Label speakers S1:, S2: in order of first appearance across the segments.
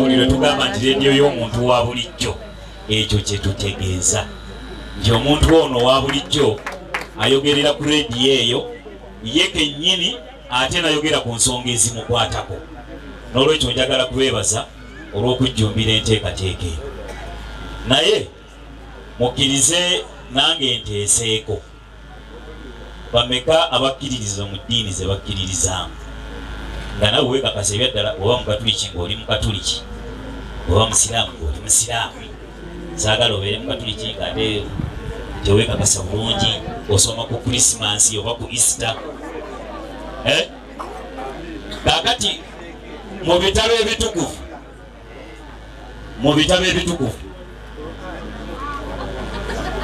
S1: buli lwe tugamba nti leediyo y'omuntu wa bulijjo ekyo kye tutegeeza nti omuntu ono wa bulijjo ayogerera ku leediyo eyo ye kennyini ate nayogera ku nsonga ezimukwatako n'olwekyo njagala kwebaza olw'okujjumbira enteekateeka eyo naye mukkirize nange nteeseeko bameka abakkiririza mu ddiini ze bakkiririzaamu nga nawe weekakasa ebyaddala oba mukatuliki ng'oli mukatuliki oba musiraamu ng'oli musiraamu saagala obeere mukatuliki nga ate teweekakasa bulungi osoma ku krisimansi oba ku easter eh? kakati mu bitalo ebitukuvu mu bitabo ebitukuvu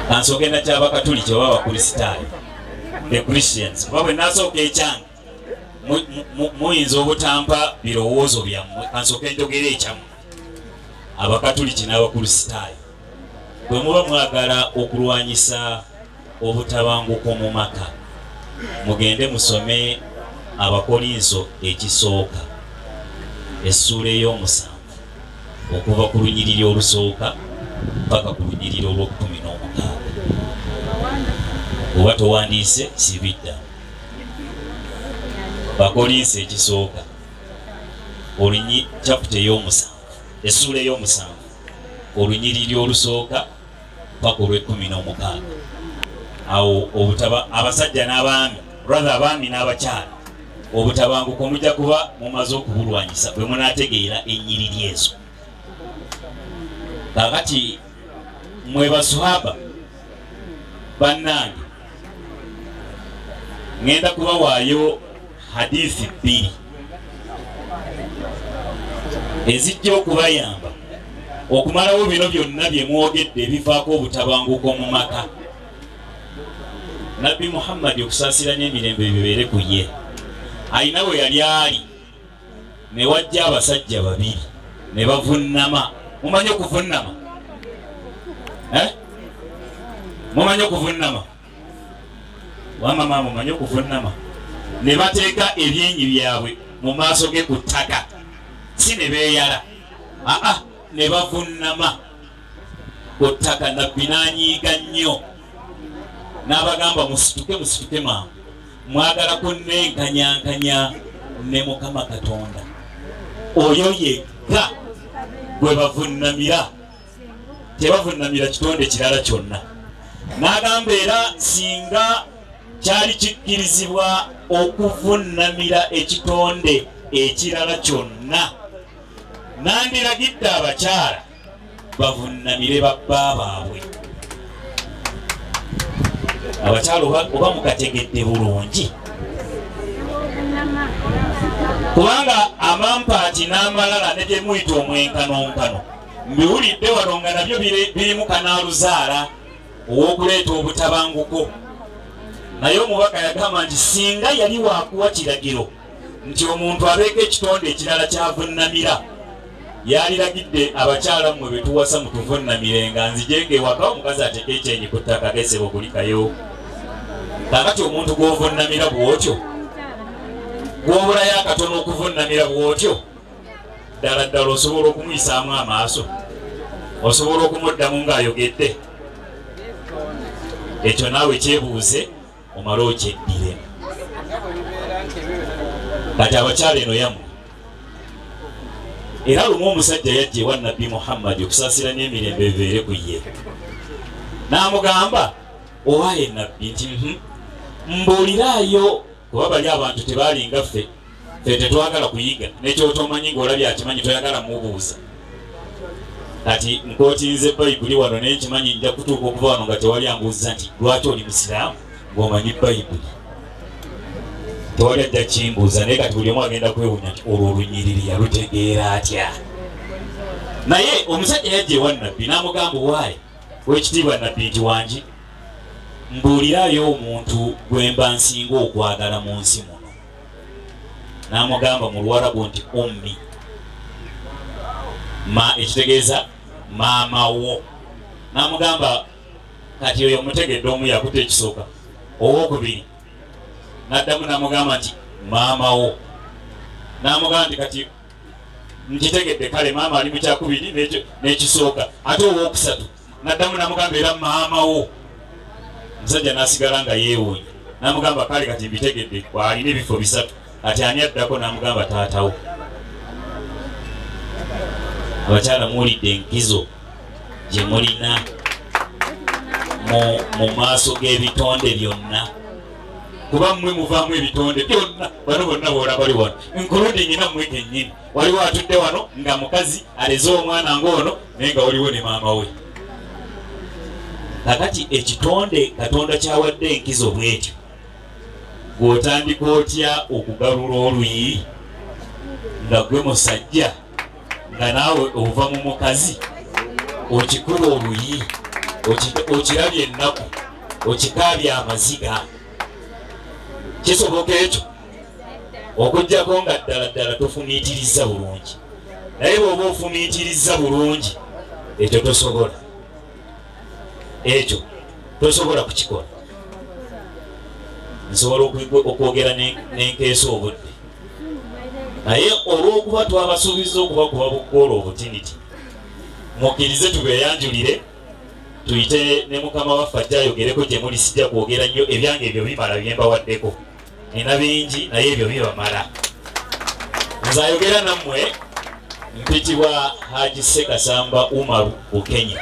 S1: ansooke na kyabakatuliki oba abakristaayo the christians kuba bwe nasooka ekyange muyinza obutampa birowoozo byammwe ansooke njogera ekyammwe abakatuliki n'abakristaayo bwe muba mwagala okulwanyisa obutabanguko mu maka mugende musome abakolinso ekisooka essuula ey'omusanvu okuva ku lunyiriri olusooka paka ku lunyiriri olw'okumi n'omukaaga oba towandiise sibidda bakolinso ekisooka olinyi caputa ey'omusanvu essuula ey'omusanvu olunyiriri olusooka paka olw'ekkumi n'omukaaga awo obutaba abasajja n'abaami rather abaami n'abakyala obutabanguko mujja kuba mumaze okubulwanyisa bwe munaategeera ennyiriri ezo kakati mwe basuhaba bannange ŋenda kubawaayo hadithi bbiri ezijja okubayamba okumalawo bino byonna bye mwogedde ebivaako obutabanguko mu maka nabbi muhammadi okusaasira n'emirembe bibeere ku ye alina we yali ali ne wajja abasajja babiri ne bavunnama mumanyi okuvunnama eh? mumanyi okuvunnama wama maama omanyi okuvunnama ne bateeka ebyenyi byabwe mu maaso ge ku ttaka si ne beeyala aa ne bavunnama ku ttaka nabbi n'anyiiga nnyo n'abagamba musituke musituke maama mwagala kunenkanyankanya ne mukama katonda oyo yekka gwe bavunnamira tebavunnamira kitonde kirala kyonna n'agamba era singa kyali kikkirizibwa okuvunnamira ekitonde ekirala kyonna nandiragidde abakyala bavunnamire babba baabwe abakyala oba mukategedde bulungi kubanga amampaati n'amalala ne gye muyita omwenkanonkano mbiwulidde wano nga nabyo birimu kanaaluzaala ow'okuleeta obutabanguko naye omubaka yagamba nti singa yali wakuwa kiragiro nti omuntu abeeko ekitonde ekirala kyavunnamira yaliragidde abakyala mmwe be tuwasa mutuvunnamire nga nzijeega ewaka omukazi ateeka ekyenyi ku ttaka gesebo kulikayo kakati omuntu gw'ovunnamira bw'otyo gw'obulayo akatono okuvunnamira bw'otyo ddala ddala osobola okumuyisaamu amaaso osobola okumuddamu ng'ayogedde ekyo naawe kyebuuze omale okyeddire kati abakyala eno yamu era lumu omusajja yajja ewa nabbi muhammadi okusaasira n'emirembe ebeere ku ye n'amugamba owaye nabbi nti mhm, mbuuliraayo kuba bali abantu tebaalinga ffe fe tetwagala kuyiga nekyotomanyi ngaolabye akimanyi toyagala mubuuza kati nkotinze bayibuli wano naye nkimanyi nja kutuuka okuva wano nga tewali ambuuza nti lwaki oli musiraamu ngaomanyi bayibuli tewali ajja kimbuuza naye kati buli omu agenda kwewunya nti olwo olunyiriri yalutegeera atya naye omusajja yajja ewa nabbi namugamba owaayi wekitiibwa nabbi nti wangi mbuulirayo omuntu gwemba nsinga okwagala mu nsi muno n'amugamba mu luwarabu nti ummi ma ekitegeeza maama wo n'amugamba kati oyo mutegedde omu yakuta ekisooka owokubiri n'addamu n'amugamba nti maama wo n'amugamba nti kati nkitegedde kale maama ali mu kyakubiri n'ekisooka ate owokusatu naddamu namugamba era maama wo musajja nasigala nga yeewunya namugamba kale kati mbitegedde waalina ebifo bisatu kati ani addako namugamba taatawo abakyala muwulidde enkizo gye mulina mu maaso g'ebitonde byonna kuba mmwe muvaamu ebitonde byonna bano bonna boola bali wano nkuludde nyina mmwe kennyini waliwo atudde wano nga mukazi aleze omwana ng'ono naye nga waliwo ne maama we kakati ekitonde katonda kyawadde enkizo bwekyo gwotandika otya okugalula oluyi nga gwe musajja nga naawe ova mu mukazi okikuba oluyi okirabye ennaku okikaabya amaziga kisoboka ekyo okujjako nga ddala ddala tofumiitirizza bulungi naye bwoba ofumiitirizza bulungi ekyo tosobola ekyo tosobola kukikola nsobola okwogera nenkeesa obudde naye olwokuba twabasuubiza okuba kuba bukoola obutiniti mukkirize tubeyanjulire tuyite ne mukama waffe ajja ayogereko gye muli sijja kwogera nnyo ebyange ebyo bimala byembawaddeko nina bingi naye ebyo bibamala nze ayogera nammwe mpitibwa haji sekasamba umaru bukenya